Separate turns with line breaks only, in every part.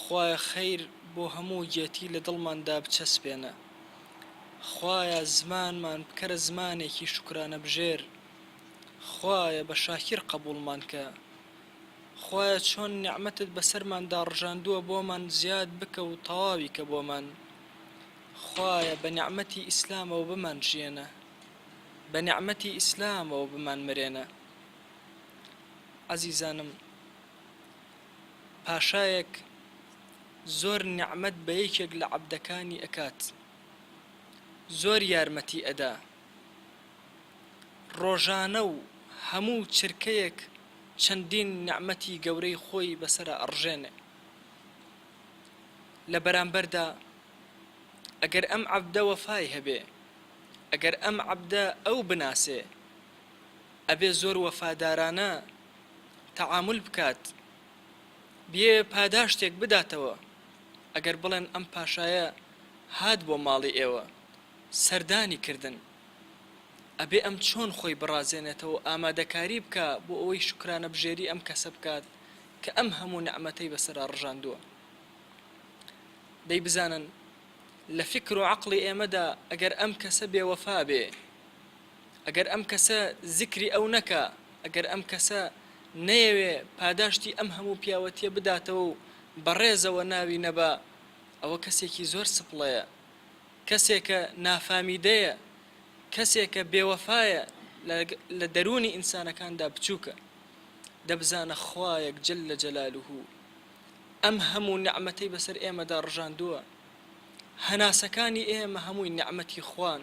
خوایە خیر بۆ هەموو گێتی لە دڵمان دا بچەسپێنە خوایە زمانمان بکەرە زمانێکی شوکرانە بژێر خوایە بە شاکیر قەبووڵمان کە خوایە چۆن نیعمەتت بەسەرمان دا ڕژاندووە بۆمان زیاد بکە و تەواوی کە بۆمان خوایە بە نیعمەتی ئیسلامەوە بمان ژیێنە بە نیعمەتی ئیسلامەوە بمان مرێنە عەزیزانم. پاشایەک زۆر نیعمەت بە یەکێک لە عەبدەکانی ئەکات زۆر یارمەتی ئەدا ڕۆژانە و هەموو چرکەیەک چەندین نیعمەتی گەورەی خۆی بەسەرا ئەڕژێنێ لە بەرامبەردا ئەگەر ئەم عەبدە وەفای هەبێ ئەگەر ئەم عەبدە ئەو بناسێ ئەبێ زۆر وەفادارانە تەعامول بکات بێ پاداشتێک بداتەوە ئەگەر بڵێن ئەم پاشایە هات بۆ ماڵی ئێوە سەردانی کردن ئەبێ ئەم چۆن خۆی بڕازێنێتەوە ئامادەکاری بکا بۆ ئەوەی شوکرانە بژێری ئەم کەسە بکات کە ئەم هەموو نەعمەتەی بەسەرا ڕژاندووە دەی بزانن لە فکر و عەقڵی ئێمەدا ئەگەر ئەم کەسە بێوەفا بێ ئەگەر ئەم کەسە زیکری ئەو نەکا، ئەگەر ئەم کەسە نەیەوێ پاداشتی ئەم هەموو پیاوەتیە بداتەوە و بە ڕێزەوە ناوی نەبا، ئەوە کەسێکی زۆر سپڵەیە، کەسێکە نافامیدەیە، کەسێکە بێوەفایە، لە دەروونی ئینسانەکاندا بچووکە. دەبزانە خوایەک جل جلاله ئەم هەموو نیعمەتەی بەسەر ئێمەدا ڕژاندووە، هەناسەکانی ئێمە هەمووی نیعمەتی خوان،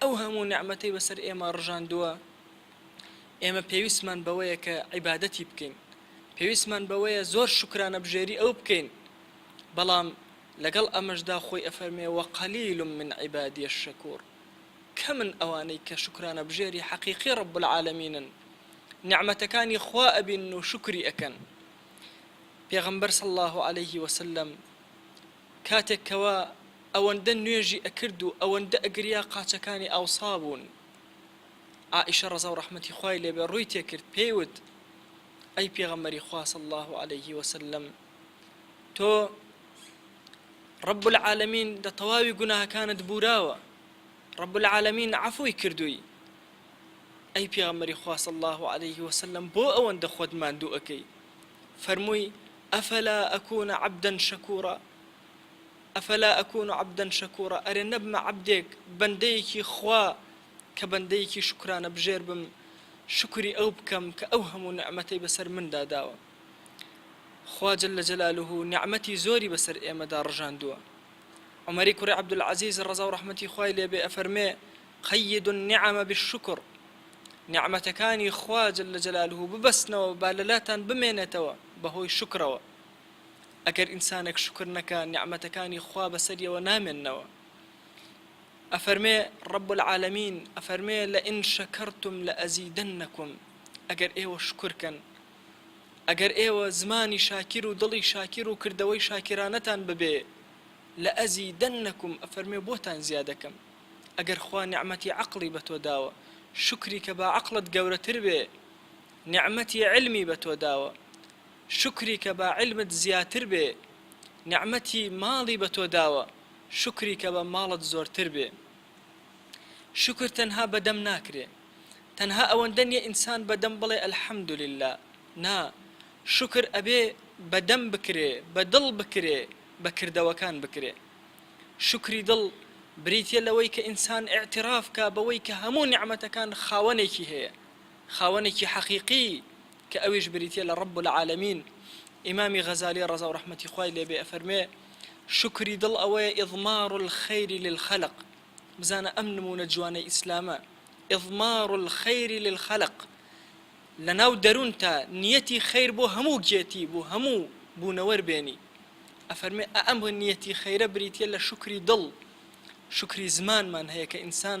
ئەو هەموو نیعمەتەی بەسەر ئێمە ڕژاندووە، ئێمە پێویستمان بەوەیە کە عیبادەتی بکەین، پێویستمان بەوەیە زۆر شوکرانەبژێری ئەو بکەین، بەڵام لەگەڵ ئەمەشدا خۆی ئەفەرموێ، وقلیل من عبادی الشکور، کەمن ئەوانەی کە شوکرانەبژێری حەقیقی رب العالمینن، نیعمەتەکانی خوا ئەبینن و شوکری ئەکەن. پێغەمبەر صلی اللە علیه وسلم کاتێک کەوا، ئەوەندە نوێژی ئەکرد و ئەوەندە ئەگریا قاچەکانی ئاوسا بوون عائیشە ڕەزا و ڕەحمەتی خوای لێ بێ ڕووی تێ کرد پێی وت ئەی پێغەمبەری خوا صلی اللە علیە وسلم تۆ رب العالمین دە تەواوی گوناهەکانت بوراوە رب العالمین عفوی کردووی ئەی پێغەمبەری خوا صلی اللە علیه وسلم بۆ ئەوەندە خۆت ماندوو ئەکەی فەرمووی ئەفەلا ئەکوونە عەبدەن شەکوورە افلا اکون عبدا شکورا ئەرێ نەبمە عەبدێک، بەندەیەکی، خوا کە بەندەیەکی شوکرانە بژێر بم شوکری ئەو بکەم کە ئەو هەموو نیعمەتەی بەسەر مندا داوە. خوا جل جلالە نیعمەتی زۆری بەسەر ئێمەدا ڕژاندووە. عومەری کوڕی عبدالعزیز ڕەزا و ڕەحمەتی خوای لێ بێ ئەفەرمێ، قیدوا النعم بالشکر، نیعمەتەکانی خوا جل جلالە ببەستنەوە با لەلاتان بمێنێتەوە بەهۆی شوکرەوە. ئەگەر ئینسانێک شوکر نەکا نیعمەتەکانی خوا بەسەریەوە نامێنەوە ئەفەرمێ ڕب العالمین ئەفەرمێ لە ئین شەکەرتم لە ئەزیدن نەکم ئەگەر ئێوە شکرکەن ئەگەر ئێوە زمانی شاکیر و دڵی شاکیر و کردەوەی شاکرانەتان ببێ لە ئەزی دەن نەکم ئەفەرمێ بۆتان زیادەکەم ئەگەر خوا نیعممەتی عقلی بە تۆ داوە شکری کە با عقلت گەورەتر بێ نیعممەتی علمی بە تۆ داوە شوکری کە بە عیلمت زیاتر بێ نیعمەتی ماڵی بە تۆ داوە شوکری کە بە ماڵت زۆرتر بێ شوکر تەنها بە دەم ناکرێ تەنها ئەوەندە نیە ئینسان بە دەم بڵێ الحمدللە نا شوکر ئەبێ بە دەم بکرێ بە دڵ بکرێ بە کردەوەکان بکرێ شوکری دڵ بریتیە لەوەی کە ئینسان اعتراف کا بەوەی کە هەموو نیعمەتەکان خاوەنێکی هەیە خاوەنێکی حەقیقی کە ئەویش بریتیە لە رب العالمین، ئیمامی غەزالی ڕەزاو ڕەحمەتی خوای لێبێ ئەفەرموێ، شوکری دڵ ئەوەیە اضمار الخیر للخلق، بزانە ئەم نمونە جوانەی ئیسلامە، اضمار الخیر للخلق، لەناو دەرونتا نیەتی خیر بۆ هەموو گێتی بۆ هەموو بونەوەر بێنی، ئەفەرمێ ئەئەم نیەتی خیرە بریتیە لە شوکری دڵ، شوکری زمانمان هەیە کە ئینسان،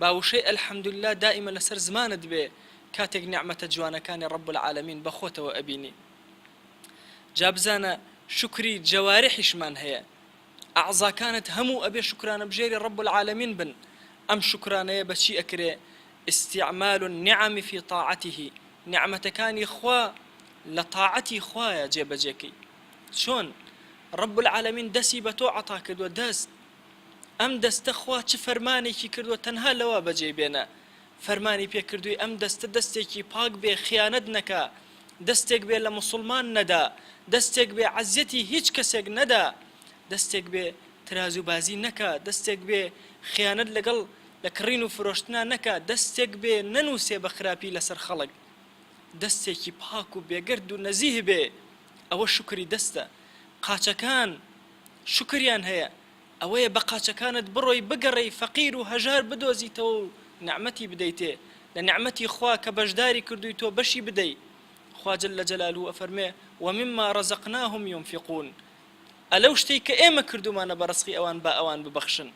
با وشەی الحمدللە دائیمە لەسەر زمانت بێ کاتێک نیعمەتە جوانەکانی رب العالمین بەخۆتەوە ئەبینی جا بزانە شوکری جەوارحیشمان هەیە ئەعزاکانت هەموو ئەبێ شوکرانەبژێری رب العالمین بن ئەم شوکرانەیە بەچی ئەکرێ استعمال النعم فی طاعته نیعمەتەکانی خوا لە طاعەتی خوایە جێبەجێکەی چۆن رب العالمین دەسی بەتۆ عەتاکردوە دەست ئەم دەستە خوا چ فەرمانێکی کردووە تەنها لەوە بەجێی بێنە فەرمانی پێ کردووی ئەم دەستە دەستێکی پاک بێ خیانەت نەکا دەستێک بێ لە موسوڵمان نەدا دەستێک بێ عەزیەتی هیچ کەسێک نەدا دەستێک بێ ترازو بازی نەکا دەستێک بێ خیانەت لەگەڵ لە کڕین و فرۆشتنا نەکا دەستێک بێ نەنوسێ بە خراپی لەسەر خەڵک دەستێکی پاک و بێگەرد و نەزیه بێ ئەوە شوکری دەستە قاچەکان شوکریان هەیە ئەوەیە بە قاچەکانت بڕۆی بگەڕێی فەقیر و هەژار بدۆزیتەوە و نعمەتی بدەیتێ لە نعمەتی خوا کە بەشداری کردووی تۆ بەشی بدەی خوا جل جلالە ئەفەرموێ ومما رزقناهم ينفقون ئە لەو شتەی کە ئێمە کردوومانە بە رزقی ئەوان با ئەوان ببەخشن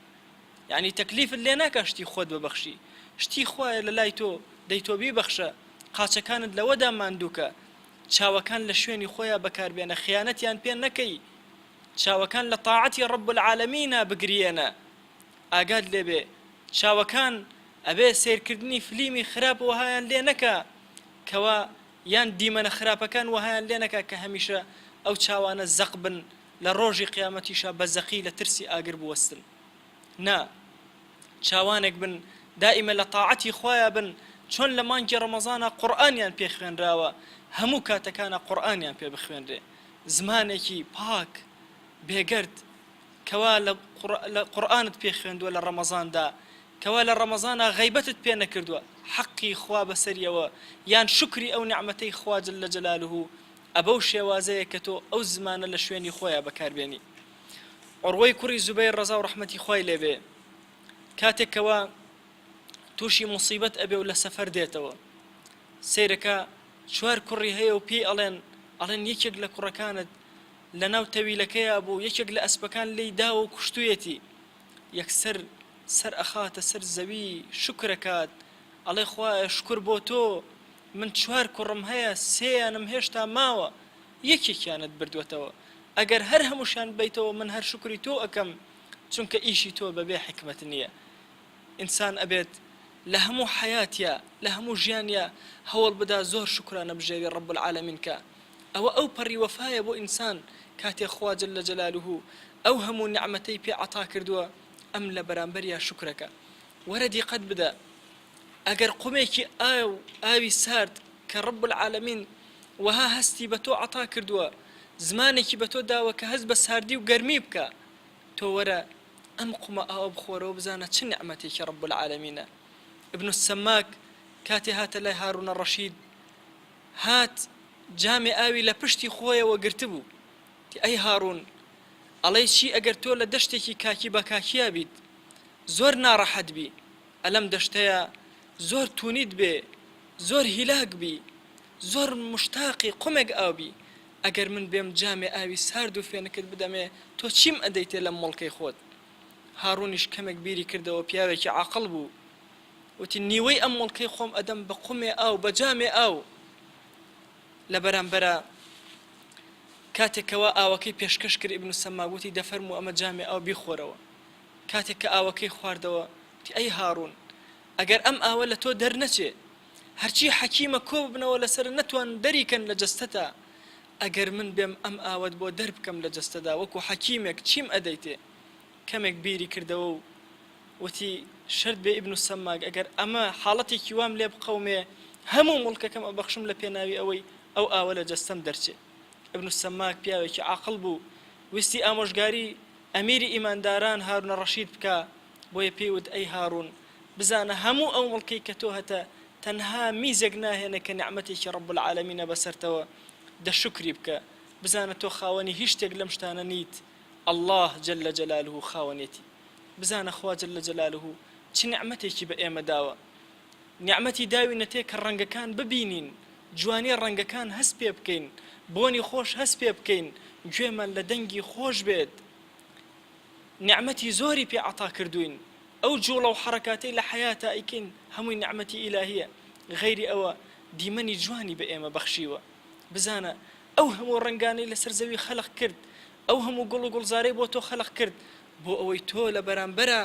یانی تەکلیفت لێ ناکا شتی خۆت ببەخشی شتی خوایە لە لای تۆ دەی تۆ بیبەخشە قاچەکانت لەوەدا ماندووکە چاوەکان لە شوێنی خۆیا بەکار بێنە خیانەتیان پێ نەکەی چاوەکان لە تاعەتی رب العالمینا بگریێنە ئاگات لێبێ چاوەکان ئەبێ سەیرکردنی فلیمی خراپ وەهایان لێ نەکا کەوا یان دیمەنە خراپەکان وەهایان لێ نەکا کە هەمیشە ئەو چاوانە زەق بن لە رۆژی قیامەتیشا بە زەقی لە ترسی ئاگر بوەستن. نا چاوانێک بن دائیمە لە تاعەتی خوایە بن چۆن لە مانگی ڕەمەزانە قورئانیان پێ خوێنراوە هەموو کاتەکانە قورئانیان پێ بخوێنرێ زمانێکی پاک بێگەرد کەوا لە قورآانت پێ خوێندووە لە ڕەمەزاندا کەوا لە ڕەمەزانە غیبەتت پێ نەکردووە حەقی خوا بەسەریەوە یان شکری ئەو نعممەەی خواجل لە جەلالوه ئەبەو شێوازەیە کە تۆ ئەو زمانە لە شوێنی خۆیان بەکاربێنی عوروەی کوڕی زوبەیر ڕەزاو ڕەحمەتی خوای لێ بێ کاتێک کەوا تووشی موسیبەت ئەبێ و لە سەفەر دێتەوە سەیرەکە چوار کوڕی هەیە و پێی ئەڵێن ئەڵێن یەکێک لە کوڕەکانت لە ناو تەویلەکەیا بوو یەکێک لە ئەسپەکان لی داوە و کوشتویەتی یەکسەر سەر ئەخاتە سەر زەوی شوکرەکات ئەڵێ خوایە شکر بۆ تۆ من چوار کوڕم هەیە سێیانم هێشتا ماوە یەکێکیانت بردوەتەوە ئەگەر هەر هەموشیان بەیتەوە من هەر شوکری تۆ ئەکەم چونکە ئیشی تۆ بەبێ حیکمەت نیە ئینسان ئەبێت لە هەموو حەیاتیا لە هەموو ژیانیا هەوڵ بدا زۆر شوکرانە بژێوی رب العالمین کا ئەوە ئەو پەڕی وەفایە بۆ ئینسان کاتێ خوا جل جلالوه ئەو هەموو نیعمەتەی پێ عەتاکردوە ئەم لە بەرامبەریا شوکرەکە وەرە دیقەت بدە ئەگەر قومێکی ئاو ئاوی سارد کە رب العالمین وەها هەستی بە تۆ عەتا کردووە زمانێکی بە تۆ داوە کە هەست بە ساردی و گەرمی بکا تۆ وەرە ئەم قومە ئاوە بخۆرەوە بزانە چ نیعمەتێکی رب العالمینە ابن السماک کاتێ هاتە لای هارونە رەشید هات جامێ ئاوی لە پشتی خۆیەوە گرتبوو تی ئەی هارون ئەڵێی چی ئەگەر تۆ لە دەشتێکی کاکی بە کاکیا بیت زۆر ناڕەحەت بی ئە لەم دەشتەیا زۆر تونیت بێ زۆر هیلاک بی زۆر مشتاقی قومێک ئاو بی ئەگەر من بێم جامێ ئاوی سارد و فێنکت بدەمێ تۆ چیم ئەدەیتێ لەم مڵکەی خۆت هاڕونیش کەمێک بیری کردەوە پیاوێکی عاقڵ بو وتی نیوەی ئەم مڵکەی خۆم ئەدەم بە قومێ ئاو بە جامێ ئاو لە بەرامبەرا کاتێک کەوا ئاوەکەی پێشکەش کرد ئیبن سەماک وتی دەفەرموو ئەمە جامێ ئاو بیخۆرەوە کاتێک کە ئاوەکەی خواردەوە، وتی، ئەی هاڕوون! ئەگەر ئەم ئاوە لە تۆ دەرنەچێ، هەرچی حەکیمە کۆ ببنەوە لەسەر نەتوان دەری کەن لە جەستەتا، ئەگەر من بێم ئەم ئاوەت بۆ دەر بکەم لە جەستەدا وەکو حەکیمێک چیم ئەدەیتێ؟ کەمێک بیری کردەوە و وتی، شەرت بێ ئیبن سەماک ئەگەر ئەمە حاڵەتێکی وام لێ بقەومێ، هەموو موڵکەکەم ئەبەخشم لە پێناوی ئەوەی ئەو ئاوە لە جەستەم دەرچێ. ئیبن سەماک پیاوێکی عاقڵ بوو، ویستی ئامۆژگاری. ئەمیری ئیمانداران هارونە ڕەشید بکا، بۆیە پێی وت، ئەی هارون، بزانە هەموو ئەو مڵکەی کە تۆ هەتە، تەنها میزێک ناهێنە کە نیعمەتێکی ڕەب العالمینە بەسەرتەوە، دە شوکری بکە، بزانە تۆ خاوەنی هیچ شتێک لەم شتانە نیت، اللە جل جلالە خاوەنێتی، بزانە خوا جل جلالە چ نیعمەتێکی بە ئێمە داوە. نیعمەتی داوینەتێ کە ڕەنگەکان ببینین، جوانی ڕەنگەکان هەست پێ بکەین، بۆنی خۆش هەست پێ بکەین، گوێمان لە دەنگی خۆش بێت. نیعمەتی زۆری پێ عەتا کردووین. ئەو جووڵە و حەڕەکاتەی لە حەیاتا ئەیکەین هەمووی نیعمەتی ئیلاهییە. غەیری ئەوە دیمەنی جوانی بە ئێمە بەخشیوە. بزانە، ئەو هەموو ڕەنگانەی لەسەر زەوی خەلق کرد، ئەو هەموو گوڵ و گوڵزارەی بۆ تۆ خەلق کرد، بۆ ئەوەی تۆ لە بەرامبەرا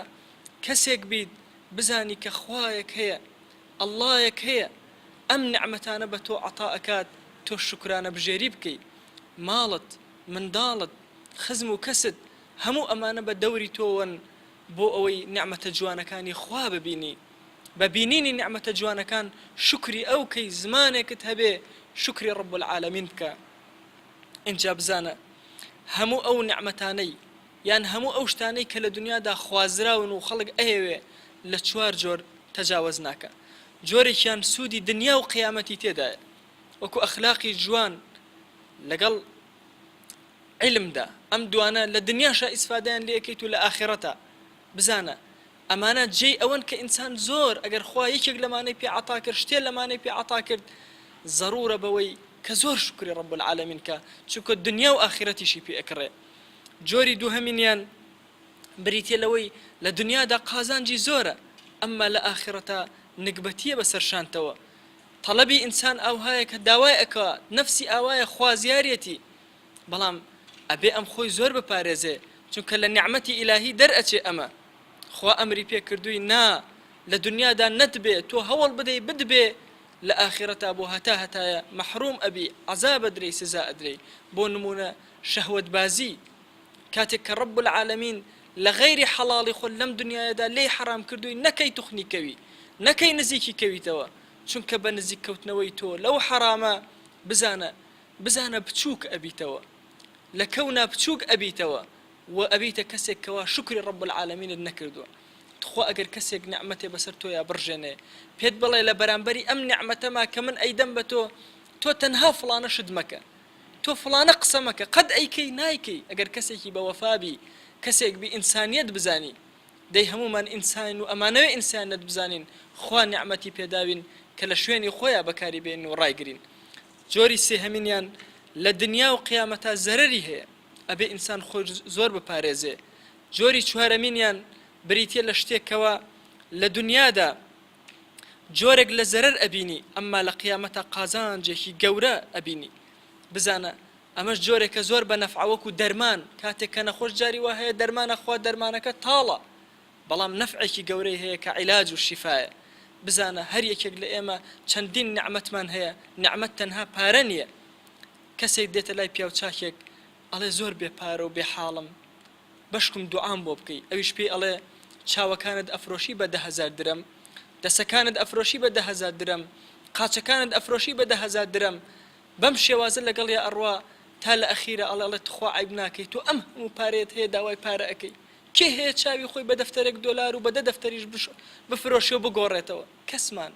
کەسێک بیت، بزانی کە خوایەک هەیە اللەیەک هەیە ئەم نیعمەتانە بە تۆ عەتا ئەکات تۆ شوکرانە بژێری بکەی ماڵت منداڵت خزم و کەست هەموو ئەمانە بە دەوری تۆوەن بۆ ئەوەی نیعمەتە جوانەکانی خوا ببینی بە بینینی نیعمەتە جوانەکان شوکری ئەو کەی زمانێکت هەبێ شوکری رب العالمین بکە ئینجا بزانە هەموو ئەو نیعمەتانەی یان هەموو ئەو شتانەی کە لە دونیادا خوازراون و خەڵک ئەیەوێ لە چوار جۆر تەجاوەز ناکا جۆرێکیان سوودی دنیا و قیامەتی تێدایە وەکو ئەخلاقی جوان لەگەڵ عیلمدا ئەم دوانە لە دنیاشا ئیسفادەیان لێ ئەکەیت و لە ئاخیڕەتا بزانە ئەمانە جێی ئەوەن کە ئینسان زۆر ئەگەر خوا یەکێک لەمانەی پێ عەتا کرد شتێ لەمانەی پێ عەتا کرد زەڕوورە بەوەی کە زۆر شوکری رب العالمین کا چونکە دنیا و ئاخیرەتیشی پێ ئەکڕێ جۆری دووهەمینیان بریتیە لەوەی لە دنیادا قازانجی زۆرە ئەمما لە ئاخرەتا نگبەتیە بەسەر شانتەوە تەڵەبی ئینسان ئاوهایە کە داوای ئەکات نەفسی ئاوایە خوازیارێتی بەڵام ئەبێ ئەم خۆی زۆر بپارێزێ چونکە لە نیعمەتی ئیلاهی دەر ئەچێ ئەمە خوا ئەمری پێ کردووی نا لە دنیادا نەتبێ تۆ هەوڵ بدەی بتبێ لە ئاخرەتا بۆ هەتا هەتایە مەحروم ئەبی عەزاب ئەدرێی سزا ئەدرێی بۆ نمونە شەهوەتبازی، کاتێک کە رب العالمین لە غەیری حەڵاڵی خۆت لەم دنیایەدا لێی حەرام کردووی نەکەی توخنی کەوی نەکەی نزیکی کەویتەوە چونکە بە نزیک کەوتنەوەی تۆ لەو حەرامە بزانە بزانە بچووک ئەبیتەوە لە کەونا بچووک ئەبیتەوە و ئەبیتە کەسێک کەوا شوکری رب العالمینت نەکردووە تخوا ئەگەر کەسێک نعمەتێ بەسەر تۆیا بڕژێنێ پێت بڵێ لە بەرامبەری ئەم نعمەتەما کە من ئەیدەم بە تۆ تۆ تەنها فڵانە شت مەکە تۆ فڵانە قسە مەکە قەت ئەیکەی نایکەی ئەگەر کەسێکی بە وەفا بی کەسێک بی ئینسانیەت بزانی دەی هەموومان ئینسانین و ئەمانەوێ ئینسانەت بزانین خوا نیعمەتی پێداوین کە لە شوێنی خۆیا بەکاری بێنین و ڕایگرین جۆری سێهەمینیان لە دنیا و قیامەتا زەرەری هەیە ئەبێ ئینسان خۆی زۆر بپارێزێ جۆری چوارەمینیان بریتیە لە شتێک کەوا لە دنیادا جۆرێک لە زەرەر ئەبینی ئەمما لە قیامەتا قازانجێکی گەورە ئەبینی بزانە ئەمەش جۆرێکە زۆر بە نەفعە وەکو دەرمان کاتێک کە نەخۆش جاری وا هەیە دەرمان ئەخوا دەرمانەکە تاڵە بەڵام نەفعێکی گەورەی هەیە کە عیلاج و شیفایە بزانە هەر یەکێک لە ئێمە چەندین نیعمەتمان هەیە نیعمەت تەنها پارە نییە کەسێک دێتە لای پیاو چاکێک ئەڵێ زۆر بێ پارە و بێ حاڵم بەشکم دوعام بۆ بکەی ئەویش پێی ئەڵێ چاوەکانت ئەفرۆشی بە دە هەزار درەم دەسەکانت ئەفرۆشی بە دە هەزار درەم قاچەکانت ئەفرۆشی بە دە هەزار درەم بەم شێوازە لەگەڵیا ئەڕوا تا لە ئەخیرا ئەڵێ ئەڵێ تخوا عەیب ناکەی تۆ ئەم هەموو پارەیەت هەیە داوای پارە ئەکەی کێ هەیە چاوی خۆی بە دەفتەرێک دۆلار و بە دە دەفتەریش بفرۆشێ و بگۆڕێتەوە کەسمان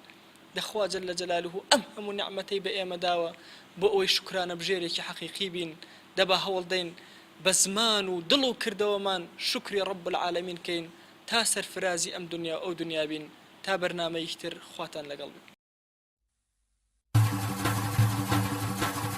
دە خوا جل جلالە ئەم هەموو نیعمەتەی بە ئێمە داوە بۆ ئەوەی شوکرانە بژێرێکی حەقیقی بین دە با هەوڵ دەین بە زمان و دڵ و کردەوەمان شوکری رب العالمین کەین تا سەرفرازی ئەم دنیا و ئەو دنیا بین تا بەرنامەییک تر خواتان لەگەڵ بێ.